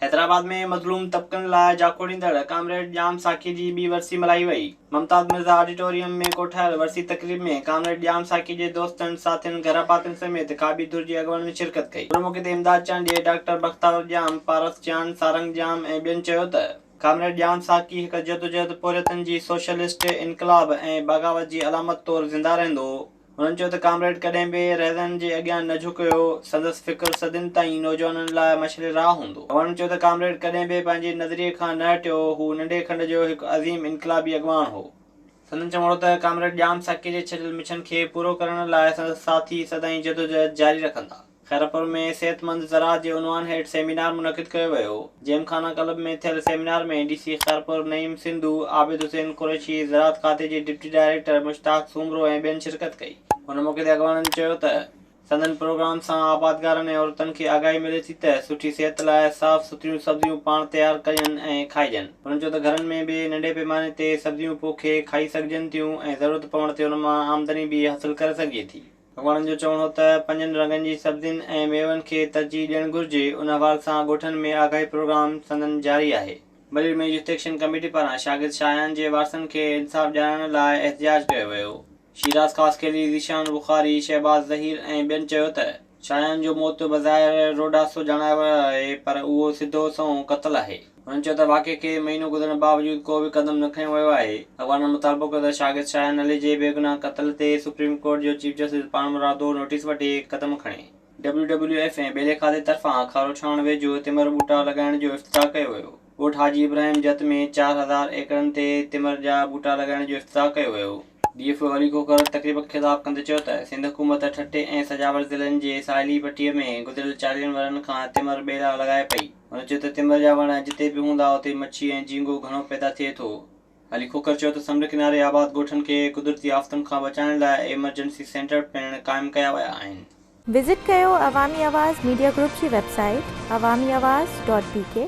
حيدرآباد ۾ مظلوم طبقن لاء جاکوڙيندڙ ڪامريڊ ڄام ساقي جي ٻي ورسي ملهائي وئي. ممتاز مرزا آڊيٽوريم ۾ ڪوٺايل ورسي تقريب ۾ ڪامريڊ ڄام ساقي جي دوستن، ساٿين، گهرڀاتين سميت کاٻي ڌر جي اڳواڻن شرڪت ڪئي. ان موقعي تي امداد چانڊيي، ڊاڪٽر بختاور ڄام، پارس چانڊ، سارنگ ڄام ۽ ٻين چيو ته ڪامريڊ ڄام ساقي هڪ جدوجهد پورهيتن جي سوشلسٽ انقلاب ۽ بغاوت جي علامت طور زنده رهندو. هن چيو ته ڪامريڊ ڪڏهن به رهزنن جي اڳيان نه جهڪيو، سندس فڪر صدين تائين نوجوانن لاء مشعل راهه هوندو. هن چيو ته ڪامريڊ ڪڏهن به پنهنجي نظريي کان نه هٽيو، هو ننڍي کنڊ جو هڪ عظيم انقلابي اڳواڻ هو. سندن چوڻ هو ته ڪامريڊ ڄام ساقيء جي ڇڏيل مڇن کي پورو ڪرڻ لاء سندس ساٿي سدائين جدوجهد جاري رکندا. خيرپور ۾ صحتمند زراعت جي عنوان هيٺ سيمينار منعقد ڪيو ويو. جيم خانه ڪلب ۾ ٿيل seminar ۾ D C Khairpur Naeem Sindhu, Abid Hussain Qureshi, زراعت کاتي جي ڊپٽي ڊائريڪٽر مشتاق سومرو ۽ ٻين شرڪت ڪئي. هن موقعي تي اڳواڻن چيو ته سندن پروگرام سان آبادگارن ۽ عورتن کي آگاهي ملي ٿي ته سٺي صحت لاء صاف سٿريون سبزيون پاڻ تيار ڪجن ۽ کائجن. هنن چيو ته گهرن ۾ به ننڍي پيماني تي سبزيون پوکي کائي سگهجن ٿيون ۽ ضرورت پوڻ تي ان مان آمدني به حاصل ڪري سگهجي ٿي. وڻن جو چوڻ هو ته پنجن رنگن جي سبزين ۽ ميون کي ترجيح ڏيڻ گهرجي، ان حوال سان ڳوٺن ۾ آگاهي پروگرام سندن جاري آهي. بلير ۾ يوٿ ايڪشن ڪميٽي پاران شاگرد شاهيان جي وارثن کي انصاف ڏيارڻ لاء احتجاج ڪيو ويو، شيراز خاصخيلي، ذيشان بخاري، شهباز ظهير ۽ ٻين چيو ته شاهيان جو موت بظاهر روڊاسو ڄاڻايو ويو آهي پر اهو سڌو سنئون قتل آهي. هن چيو ته واقعي کي مهينو گذرڻ باوجود ڪو به قدم نه کنيو ويو آهي، اڳواڻن مطالبو ڪيو ته شاگرد شاهين علي جي بيگناهه قتل تي سپريم ڪورٽ جو چيف جسٽس پاڻمرادو نوٽيس وٺي قدم کڻي. ڊبليو ڊبليو ايف ۽ ٻيلي کاتي طرفان کاروڇاڻ ويجهو تمر ٻوٽا لڳائڻ جو افتتاح ڪيو ويو، ڳوٺ حاجي ابراهيم جت ۾ چار هزار ايڪڙن تي تمر جا ٻوٽا لڳائڻ جو افتتاح ڪيو ويو. D F O Ali Khokhar تقريب کي خطاب ڪندي چيو ته سنڌ حڪومت ٺٽي ۽ سجاول ضلعن جي ساحلي پٽي ۾ گذريل چاليهن ورهن کان تمر ٻيلا لڳائي پئي، هن چيو ته تمر جا وڻ جتي به هوندا اتي مڇي ۽ جهينگو گهڻو پيدا ٿئي ٿو. علي کوکر چيو ته سمنڊ ڪناري آباد ڳوٺن کي قدرتي آفتن کان بچائڻ لاء ايمرجنسي سينٽر پڻ قائم ڪيا ويا آهن. وزٽ ڪيو عوامي آواز ميڊيا گروپ جي website Awami Awaz dot بي ڪي.